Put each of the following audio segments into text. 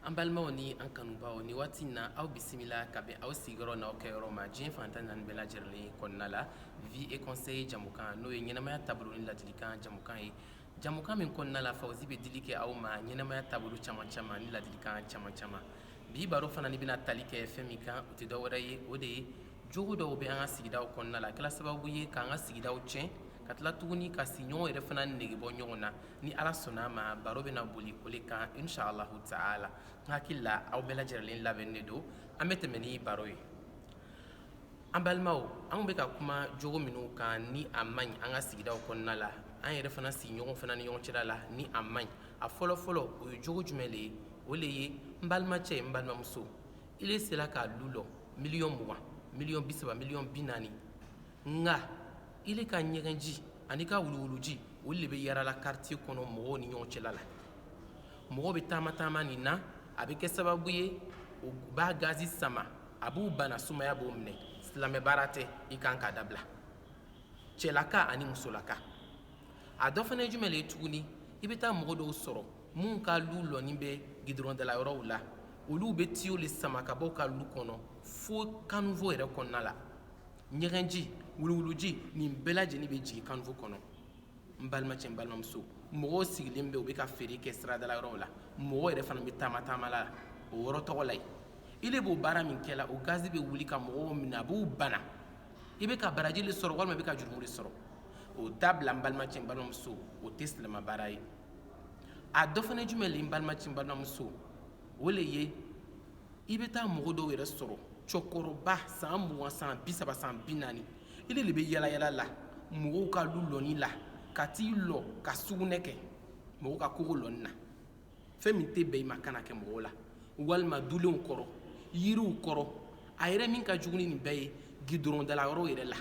An balimaw ni an kanubaw ni waati in na aw bisimila ka bɛn aw sigiyɔrɔ n'aw kɛyɔrɔ ma diɲɛ fan tan naani bɛɛ lajɛlen kɔnɔna la vie et conseil jɛmukan n'o ye ɲɛnamaya taabolo ni ladilikan jɛmukan ye jɛmukan min kɔnɔna la Fawozi bɛ dili kɛ aw ma ɲɛnamaya taabolo caman caman ni ladilikan caman caman bi baro fana ni bɛna tali kɛ fɛn min kan o tɛ dɔwɛrɛ ye o de ye jogo dɔw bɛ an ka sigidaw kɔnɔna la a kɛla sababu ye k'an ka sigidaw tiɲɛ ka tila tuguni ka sigiɲɔgɔnw yɛrɛ fana nege bɔ ɲɔgɔn na ni ala sɔnna ma baro bɛna boli o de kan inshallahu taala n hakili la aw bɛɛ lajɛlen labɛnnen de don an bɛ tɛmɛ ni baro ye an balimaw anw bɛ ka kuma jogo minnu kan ni a man ɲi an ka sigidaw kɔnɔna la an yɛrɛ fana sigiɲɔgɔn fana ni ɲɔgɔn cɛla la ni a man ɲi a fɔlɔfɔlɔ o ye jogo jumɛn de ye o le ye n balimacɛ n balimamuso ile sera ka lu lɔ miliyɔn mugan miliyɔn bi saba miliyɔn bi naani nka ile ka ɲɛgɛnji ani i ka wuluwuluji olu de bɛ yarala karitiye kɔnɔ mɔgɔw ni ɲɔgɔn cɛla la mɔgɔw bɛ taama-taama nin na a bɛ kɛ sababu ye u b'a gazi sama a b'u bana sumaya b'o minɛ silamɛ baara tɛ i kan k'a dabila cɛlaka ani musolaka a dɔ fana ye jumɛn le ye tuguni i bɛ taa mɔgɔ dɔw sɔrɔ minnu ka lu lɔnin bɛ gidɔrɔndala yɔrɔw la olu bɛ tiyo le sama ka bɔ u ka lu kɔnɔ fo kanivo yɛrɛ kɔnɔna la ɲɛgɛnji wuluwuluji nin bɛɛ lajɛlen bɛ jigin kanivo kɔnɔ n balimacɛ n balimamuso mɔgɔw sigilen bɛ u bɛ ka feere kɛ siradala yɔrɔw la mɔgɔw yɛrɛ fana bɛ taama taama la o yɔrɔ tɔgɔ la yen ile b'o baara min kɛla o gazi bɛ wuli ka mɔgɔw minɛ a b'u bana i bɛ ka baraji le sɔrɔ walima i bɛ ka jurumu le sɔrɔ o dabila n balimacɛ n balimamuso o tɛ silamɛ baara ye a dɔ fana ye jumɛn le ye n balimacɛ n balimamuso o le ye i bɛ taa mɔgɔ dɔw yɛrɛ sɔrɔ cɛkɔrɔba san mugan san bi saba san bi naani ile de bɛ yalayala la mɔgɔw ka lu lɔni la ka t'i lɔ ka sugunɛ kɛ mɔgɔw ka kogo lɔnin na fɛn min tɛ bɛn i ma kan'a kɛ mɔgɔw la walima dulenw kɔrɔ yiriw kɔrɔ a yɛrɛ min ka jugu ni nin bɛɛ ye gidɔrɔndala yɔrɔw yɛrɛ la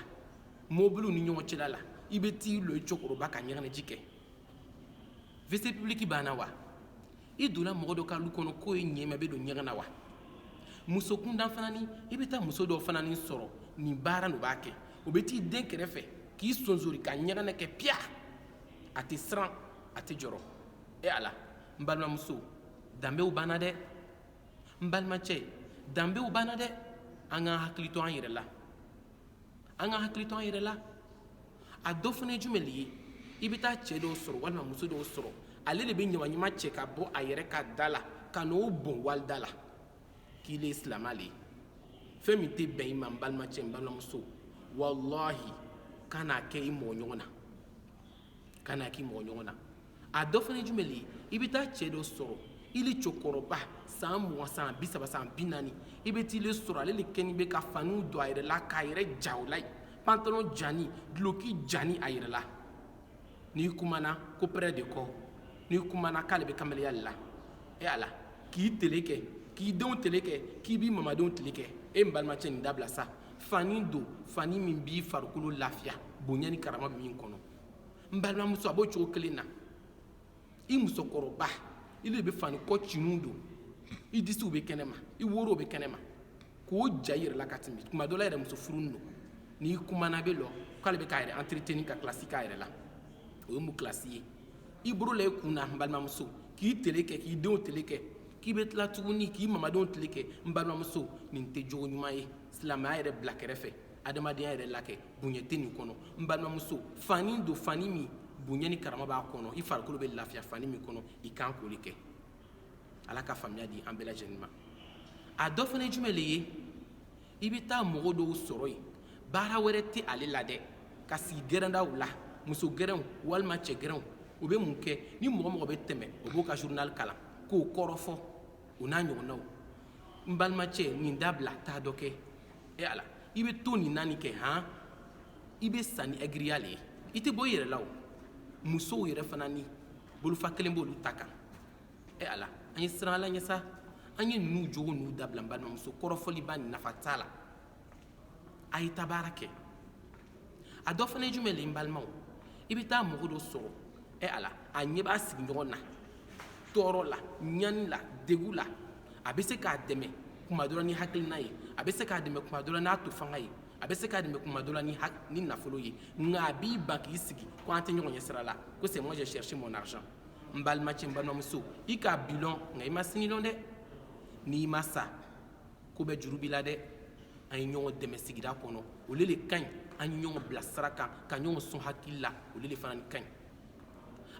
mobiliw ni ɲɔgɔn cɛla la i bɛ t'i lɔ i cɛkɔrɔba ka ɲɛgɛnɛji kɛ WC public banna wa i donna mɔgɔ dɔ ka lu kɔnɔ k'o ye ɲɛma bɛ don ɲɛgɛn na wa muso kundan fana ni i bɛ taa muso dɔ fana ni sɔrɔ nin baara n'o b'a kɛ o bɛ t'i dɛn kɛrɛfɛ k'i sonsori ka ɲɛgɛnɛ kɛ piya a tɛ siran a tɛ jɔrɔ e ala n balimamuso danbew banna dɛ n balimacɛ danbew banna dɛ an k'an hakili to an yɛrɛ la an k'an hakili to an yɛrɛ la a dɔ fana ye jumɛn le ye i bɛ taa cɛ dɔw sɔrɔ walima muso dɔw sɔrɔ ale de bɛ ɲamaɲama cɛ ka bɔ a yɛrɛ ka da la ka n'o bɔn wali da la k'ile ye silamɛ le ye fɛn min tɛ bɛn i ma n balimacɛ n balimamuso walahi kan'a kɛ i mɔgɔ ɲɔgɔn na kan'a k'i mɔgɔ ɲɔgɔn na a dɔ fana ye jumɛn le ye i bɛ taa cɛ dɔ sɔrɔ ile cɛkɔrɔba san mugan san bi saba san bi naani i bɛ taa ile sɔrɔ ale le kɛlen bɛ ka faniw don a yɛrɛ la k'a yɛrɛ ja o la yen pantalon jani duloki jani a yɛrɛ la n'i kumana ko près de corps n'i kumana k'ale bɛ kamalenya le la e ala k'i tele kɛ k'i denw tele kɛ k'i b'i mamadenw tele kɛ e n balimacɛ nin dabila sa fani don fani min b'i farikolo lafiya bonya ni karama bɛ min kɔnɔ n balimamuso a b'o cogo kelen na i musokɔrɔba i le bɛ fani kɔ ciniw don i disiw bɛ kɛnɛma i worow bɛ kɛnɛma k'o ja i yɛrɛ la ka tɛmɛ tuma dɔ la yɛrɛ muso furuni don n'i kumana bɛ lɔ k'ale bɛ k'a yɛrɛ entretenir ka kilasi k'a yɛrɛ la o ye mun kilasi ye i bolo la i kun na n balimamuso k'i tele kɛ k'i denw tele kɛ k'i bɛ tila tuguni k'i mamadenw tile kɛ n balimamuso nin tɛ jogo ɲuman ye silamɛya yɛrɛ bila kɛrɛfɛ adamadenya yɛrɛ la kɛ bonya tɛ nin kɔnɔ n balimamuso fani don fani min bonya ni karama b'a kɔnɔ i farikolo bɛ lafiya fani min kɔnɔ i kan k'o le kɛ ala ka faamuya di an bɛɛ lajɛlen ma a dɔ fana ye jumɛn le ye i bɛ taa mɔgɔ dɔw sɔrɔ yen baara wɛrɛ tɛ ale la dɛ ka sigi gɛrɛndaw la muso gɛrɛnw walima cɛ gɛrɛnw o bɛ mun kɛ ni mɔgɔ mɔgɔ bɛ tɛmɛ o b'o ka journal kalan k'o kɔrɔfɔ o n'a ɲɔgɔnnaw n balimacɛ nin dabila taa dɔ kɛ e ala i bɛ to nin naani kɛ han i bɛ sa nin ɛgiriya le ye i tɛ bɔ i yɛrɛ la o musow yɛrɛ fana ni bolofa kelen b'olu ta kan e ala an ye siran ala ɲɛ sa an ye ninnu jogo ninnu dabila n balimamuso kɔrɔfɔliba nafa t'a la a ye taa baara kɛ a dɔ fana ye jumɛn le n balimaw i bɛ taa mɔgɔ dɔ sɔrɔ ɛ ala a ɲɛ b'a sigiɲɔgɔn na tɔɔrɔ la ɲani la degu la a bɛ se k'a dɛmɛ kuma dɔ la ni hakilina ye a bɛ se k'a dɛmɛ kuma dɔ la n'a to fanga ye a bɛ se k'a dɛmɛ kuma dɔ la ni nafolo ye nka a b'i ban k'i sigi ko an tɛ ɲɔgɔn ɲɛ sira la ko c'est moi j'ai cherché mon argent n balimacɛ n balimamuso i ka bi lɔn nka i ma sini lɔn dɛ n'i ma sa ko bɛɛ juru b'i la dɛ an ye ɲɔgɔn dɛmɛ sigida kɔnɔ olu le ka ɲi an ye ɲɔgɔn bila sira kan ka ɲɔgɔn sɔn hakili la olu le fana ka ɲi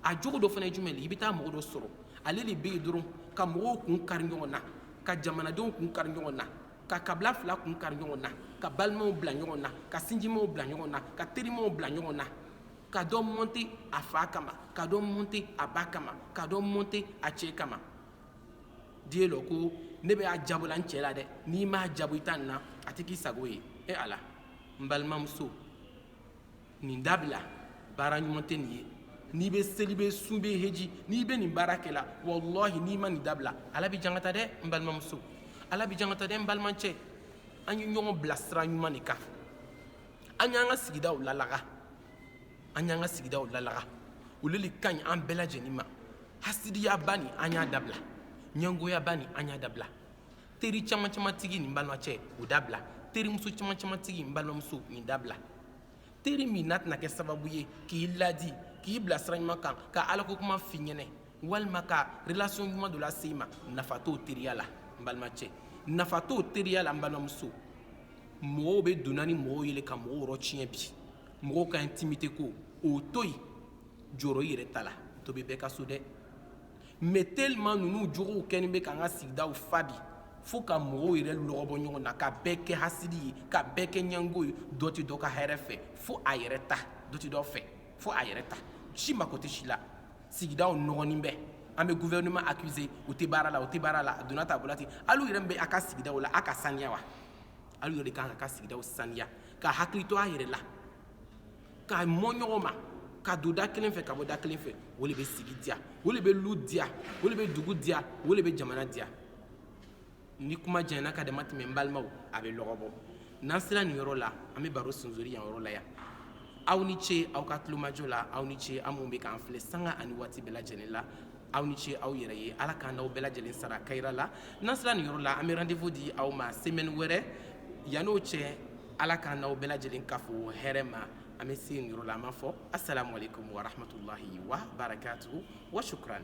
a jogo dɔ fana ye jumɛn le i bɛ taa mɔgɔ dɔ sɔrɔ ale le bɛ yen dɔrɔn ka mɔgɔw kun kari ɲɔgɔn na ka jamanadenw kun kari ɲɔgɔn na ka kabila fila kun kari ɲɔgɔn na ka balimaw bila ɲɔgɔn na ka sinjimaw bila ɲɔgɔn na ka terimaw bila ɲɔgɔn na ka dɔ monter a fa kama ka dɔ monter a ba kama ka dɔ monter a cɛ kama diɲɛ lɔ ko ne bɛ a jabɔ la n cɛ la dɛ n'i m'a jabɔ i ta nin na a tɛ k'i sago ye e ala n balimamuso nin dabila baara ɲuman tɛ nin ye n'i bɛ seli bɛ sun bɛ heji n'i bɛ nin baara kɛ la walahi n'i ma nin dabila ala b'i jangata dɛ n balimamuso ala b'i jangata dɛ n balimacɛ an ye ɲɔgɔn bila sira ɲuman de kan an y'an ka sigidaw lalaga an y'an ka sigidaw lalaga olu le ka ɲi an bɛɛ lajɛlen ma hasidiyaba nin an y'a dabila ɲɛngoyaba nin an y'a dabila teri caman caman tigi nin n balimacɛ o dabila terimuso caman caman tigi n balimamuso nin dabila teri min n'a tɛna kɛ sababu ye k'i ladi k'i bila sira ɲuman kan ka alako kuma f'i ɲɛnɛ walima ka relation ɲuman dɔ lase i ma nafa t'o teriya la n balimacɛ nafa t'o teriya la n balimamuso mɔgɔw bɛ donna ni mɔgɔw ye le ka mɔgɔw yɔrɔ tiɲɛ bi mɔgɔw ka intimité ko o to yen jɔrɔ i yɛrɛ ta la to bɛ bɛɛ ka so dɛ mais tellement ninnu jogow kɛlen bɛ k'an ka sigidaw fa bi fo ka mɔgɔw yɛrɛ lɔgɔbɔ ɲɔgɔn na ka bɛɛ kɛ hasidi ye ka bɛɛ kɛ ɲɛngo ye dɔ tɛ dɔ ka hɛrɛ fɛ fo a yɛrɛ ta dɔ tɛ dɔ fɛ fo a yɛrɛ ta si mako tɛ si la sigidaw nɔgɔnin bɛ an bɛ gouvernement accuser u tɛ baara la u tɛ baara la a donna tan a bɔra ten alu yɛrɛ min bɛ a ka sigidaw la a ka saniya wa alu yɛrɛ de kan k'a ka sigidaw saniya k'a hakili to a yɛrɛ la ka mɔ ɲɔgɔn ma ka don da kelen fɛ ka bɔ da kelen fɛ o le bɛ sigi diya o le bɛ lu diya o le bɛ dugu diya o le bɛ jamana diya ni kuma janyana ka dama tɛmɛ n balimaw a bɛ lɔgɔ bɔ n'an sera nin yɔrɔ la an bɛ baro sunzori yan yɔrɔ la yan aw ni ce aw ka tulomajɔ la aw ni ce aw minnu bɛ k'an filɛ sanga ani waati bɛɛ lajɛlen la aw ni ce aw yɛrɛ ye ala k'an n'aw bɛɛ lajɛlen sara kayira la n'an sera nin yɔrɔ la an bɛ rendez-vous di aw ma semaine wɛrɛ yani o cɛ ala k'an n'aw bɛɛ lajɛlen kafo hɛrɛ ma an bɛ se nin yɔrɔ la an b'a fɔ assalamu aleykum wa rahmatulahi wa barakatuhu wa shukran